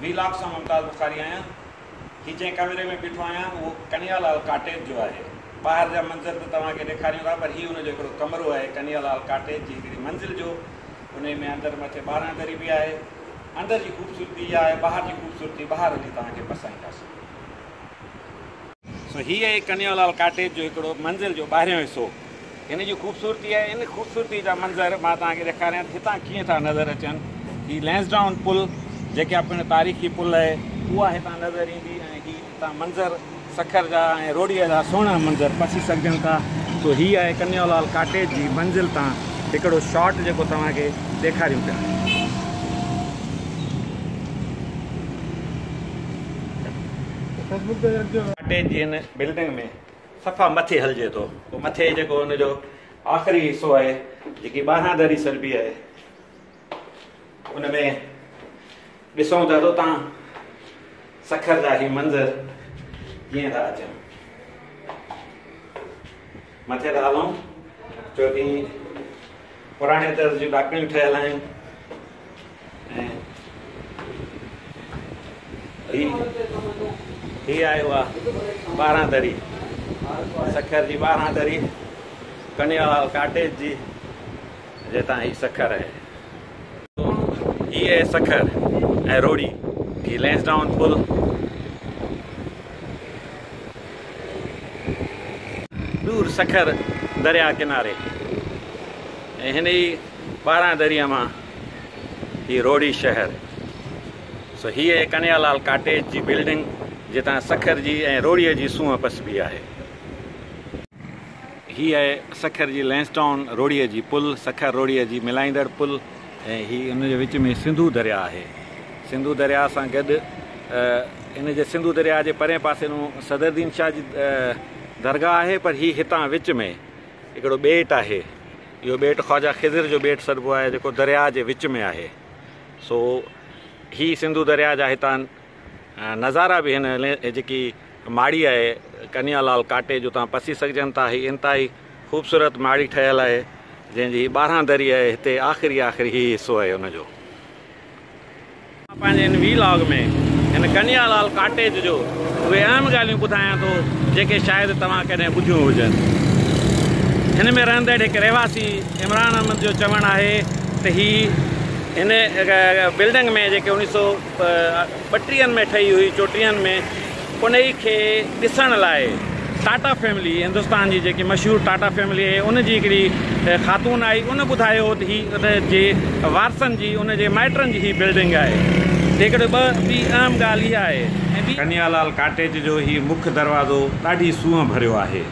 V lock سان ممتاز بخاري آهيان. هي جنهن ڪئميري ۾ بيٺو آهيان اهو ڪنهيا لال ڪاٽيج جو آهي. ٻاهر جا منظر ته توهان کي ڏيکاريون ٿا پر هي ان جو هڪڙو ڪمرو آهي ڪنهيا لال ڪاٽيج جي هڪڙي منزل جو. انهي ۾ اندر مٿي ٻارهن دري به آهي. اندر جي خوبصورتي اها آهي ٻاهر جي خوبصورتي ٻاهر هلي توهان کي پرسائينداسين. سو هي آهي ڪنيو لال ڪاٽيج جو هڪڙو منزل جو ٻاهريون حصو. هن جي خوبصورتي آهي. ان خوبصورتي جا منظر مان توهان کي ڏيکاريان ته هتان ڪيئن ٿا نظر اچن. هي لينسڊائون پل جيڪا پڻ تاريخي پل آهي اها هتان نظر ايندي ۽ هي هتان منظر سکر جا ۽ روهڙيء جا سهڻا منظر پسي سگهجن ٿا. سو هي آهي ڪنيو لال ڪاٽيج جي منزل تان هڪڙو شاٽ جيڪو توهان کي ڏيکاريون پيا. اٽي جي ان بلڊنگ ۾ صفا مٿي هلجي ٿو. پوء مٿي جيڪو ان جو آخري حصو آهي، جيڪي ٻارهن دري سربي آهي، ان ۾ ڏسون ته اتان سکر جا هي منظر ڪيئن ٿا اچن. مٿي ٿا هلون جو ڪي پراڻي طرز جون ڏاڪڻيون ٺهيل آهن هي آهي اها ٻارهن دري سکر جي ٻارهن دري ڪنيوال ڪاٽيج جي جتان هي سکر آهي هي اهي سکر ۽ روهڙي هي لينس ڊائون پل. دور سکر درياء ڪناري ۽ هن ئي ٻارهن دريء مان هي روهڙي شهر. سو هي اهي ڪنهيا لال ڪاٽيج جي بلڊنگ جتان سکر جي ۽ روهڙيء جي سونهن پسبي آهي. هي آهي سکر جي لينس ٽائون روهڙيء جي پل، سکر روهڙيء جي ملائيندڙ پل ۽ هي ان جي وچ ۾ سنڌو درياهه آهي. سنڌو درياهه سان گڏ ان جي سنڌو درياهه جي پرئين پاسي نون صدرالدين شاهه جي درگاهه آهي پر هي هتان وچ ۾ هڪڙو ٻيٽ آهي. اهو ٻيٽ خواجه خضر جو ٻيٽ سڏبو آهي جيڪو درياهه جي وچ ۾ آهي. سو هي سنڌو درياهه جا هتان نظارا به هن جيڪي ماڙي آهي ڪنيا لال ڪاٽي جو تان پسي سگهجن ٿا هي انتهائي خوبصورت ماڙي ٺهيل آهي جنهن جي ٻارهان دري آهي هتي آخري آخري هي حصو آهي ان جو پنهنجي هن وي لاگ ۾ هن ڪنيا لال ڪاٽيج جو اهي اهم ڳالهيون ٻڌايان ٿو جيڪي شايد توهان ڪڏهن ٻڌيون هجن هن ۾ رهندڙ هڪ رهواسي عمران احمد جو چوڻ آهي ته هي هن بلڊنگ ۾ جيڪي انيس سو ٻٽيهن ۾ ٺهي هئي چوٽيهن ۾ انهي کي ڏسڻ لاء ٽاٽا فيملي هندستان جي جيڪي مشهور ٽاٽا فيملي آهي ان جي هڪڙي خاتون آئي ان ٻڌايو هو ته هي ان جي وارثن جي ان جي مائٽن جي هي بلڊنگ آهي هڪڙي ٻه ٻي اهم ڳالهه اها آهي ۽ ٻي ڪنهيا لال ڪاٽيج جو هي مک دروازو ڏاڍي سونهن ڀريو آهي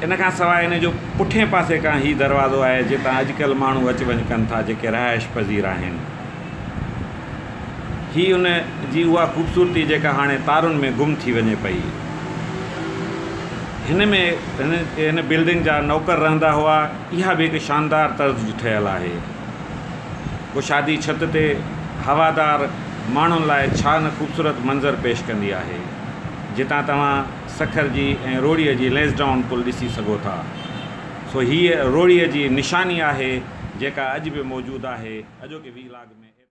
ان کان سواء ان جو پٺئين پاسي کان هي دروازو آهي جتان اڄڪلهه ماڻهو اچ وڃ ڪن ٿا جيڪي رهائش پذير آهن. هي ان جي اها خوبصورتي جيڪا هاڻي تارن ۾ گم ٿي وڃي پئي. هن ۾ هن بلڊنگ جا نوڪر رهندا هئا. اها به هڪ شاندار طرز جي ٺهيل آهي. ڪو شادي ڇت تي هوادار ماڻهن لاء ڇا نه خوبصورت منظر پيش ڪندي آهي. جتان توهان سکر جي ۽ روهڙيء جي لينسڊائون پل ڏسي سگهو ٿا. سو هيء روهڙيء جي نشاني آهي، جيڪا اڄ به موجود آهي. اڄوڪي ويهه لاڳ ۾.